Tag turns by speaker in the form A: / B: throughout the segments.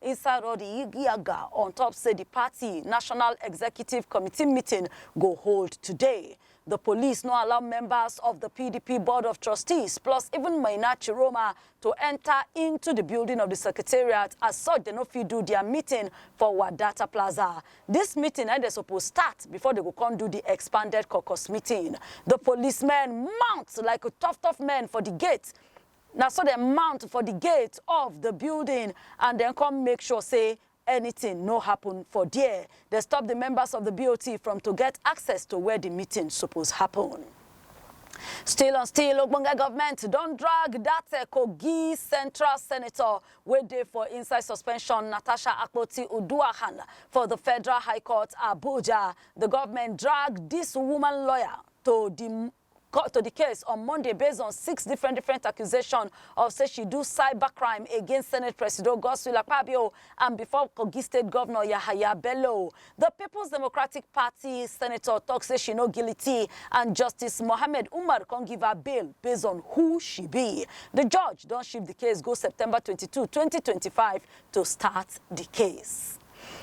A: Inside all di yig-yagga on top say di party National Executive Committee meeting go hold today, di police no allow members of di pdp Board of Trustees plus even Maina Chiroma to enta into di building of di secretariat as such dem no fit do dia meeting for Wadata Plaza. Dis meeting na im dem suppose start before dem go come do di expanded caucus meeting. Di policemen mount like tough tough men for di gate Na so dem mount for di gate of di building and dem come make sure say anytin no happun for dia. Dem stop di members of di BOT from to get access to where di meeting suppose happun. Still on still, ogbonge government don drag dat Kogi Central senator wey dey for inside suspension, Natasha Akpoti-Uduaghan, for di Federal High Court, Abuja. Di government drag dis woman lawyer to di court to di case on monday based on six different different accusation of say she do cybercrime against senate presido godswill akpabio and before kogi state governor yahaya bello di peoples democratic party senator tok say she no guilty and justice mohammed umar come give her bail based on who she be di judge don shift di case go september 22 2025 to start di case.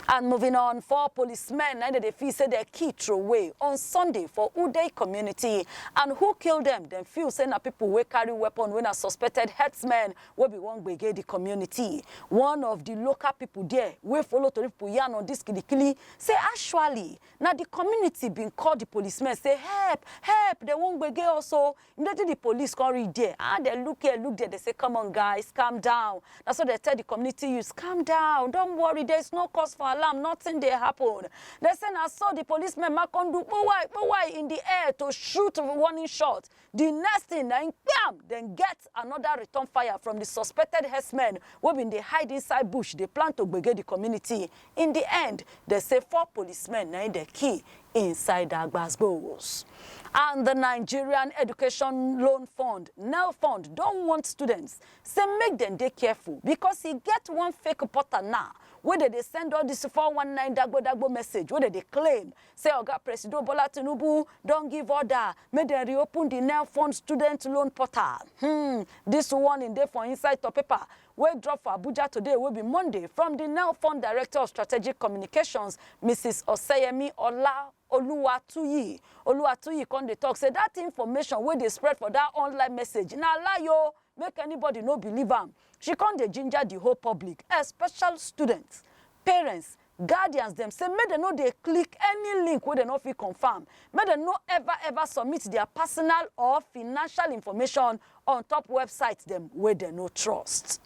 A: And moving on, four policemen na im dem dey feel say dem kill throway on Sunday for Udey community. And who kill dem? Dem feel say na people wey carry weapon wey na suspected herdsmen wey be wan gbege the community. One of the local people there wey follow tori people yarn on this kilikili say actually na the community bin call the policemen say help, help, dem wan gbege us o. Immediately di police come reach there, ah dem look here look there, dem say come on guys calm down, na so dem tell di community youths calm down don't worry there is no cause for alarm nothing dey happen. Dem say na so di policemen ma come do kpowai kpowai in di air to shoot warning shot, di next thing na im kpiam dem get another return fire from di suspected herdsmen wey bin dey hide inside bush dey plan to gbege di community. In di end, dem say four policemen na im dem kill inside dat gbas-gbos. And di Nigerian Education Loan Fund, Nelfund, don warn students say make dem dey careful because e get one fake portal now wey dem dey send all dis four one nine dagbo-dagbo message wey dem dey claim say Oga Presido Bola Tinubu don give order make dem reopen di Nelfund student loan portal. Hmm, dis warning dey for inside top paper wey drop for Abuja today wey be Monday from di now formed Director of Strategic Communications, Mrs Oseyemi Ola Oluwatuyi. Oluwatuyi come dey talk say dat information wey dey spread for dat online message na lie o, make anybody no believe am. She come dey ginger di whole public, especial students, parents, Guardians dem say make dem no dey click any link wey dem no fit confirm, make dem no ever ever submit dia personal or financial information on top websites dem wey dem no trust.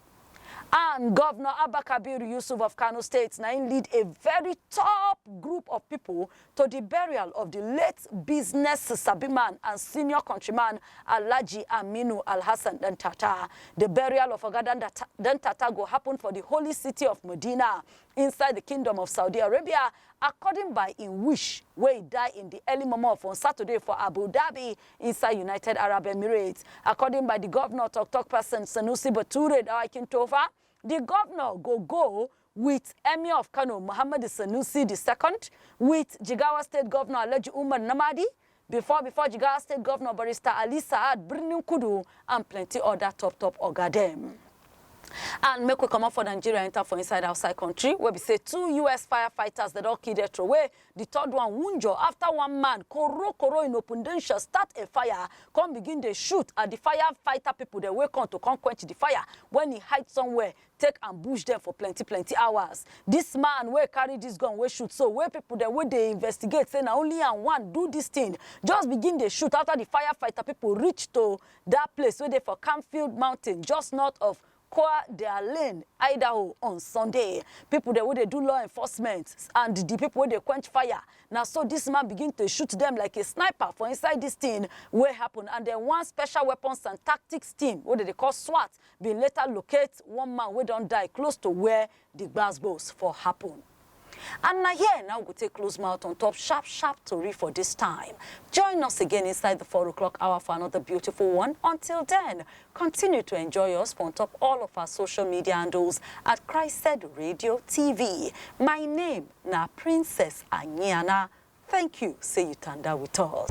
A: And Govnor Abba Kabir Yusuf of Kano State na im lead a very top group of pipo to di burial of di late business sabi man and senior countryman Alhaji Aminu Alhassan Dantata. Di burial of Oga Dantata go happun for di holy city of Medina inside di Kingdom of Saudi Arabia according by im wish wey e die in di early momo of on Saturday for Abu Dhabi inside United Arab Emirates. According by di govnor tok-tok pesin Sanusi Bature Dawakin-Tofa, di govnor go go wit Emir of Kano Muhammadu Sanusi di Second, wit Jigawa State Govnor Alhaji Umar Namadi, before before Jigawa State Governor Barrister Ali Sa'ad Birnin Kudu and plenty other top top oga dem. And make we comot for Nigeria enter for inside outside country wey be say two US firefighters dem don kill dem throway, the third one wunjure after one man koro koro in opundensha start a fire come begin dey shoot at the firefighter people dem wey come to come quench the fire when e hide somewhere take ambush dem for plenty plenty hours. Dis man wey carry dis gun wey shoot so, wey pipo dem wey dey investigate say na only am wan do dis tin, just begin dey shoot afta di firefighter pipo reach to dat place wey dey for Canfield Mountain, just north of Coeur d'Alene, Idaho, on Sunday. Pipo dem wey dey do law enforcement and di pipo wey dey quench fire, na so dis man begin to shoot dem like a sniper for inside dis tin wey happun and dem one special weapons and tactics team wey dem dey call SWAT bin later locate one man wey don die close to wia di gbas-gbos for happun. And na here na we go take close mouth on top sharp sharp tori for dis time. Join us again inside di four o'clock hour for anoda beautiful one. Until den, continue to enjoy us for on top all of our social media handles at Christed Radio TV. My name na Princess Anyiana. Thank you say you tanda with us.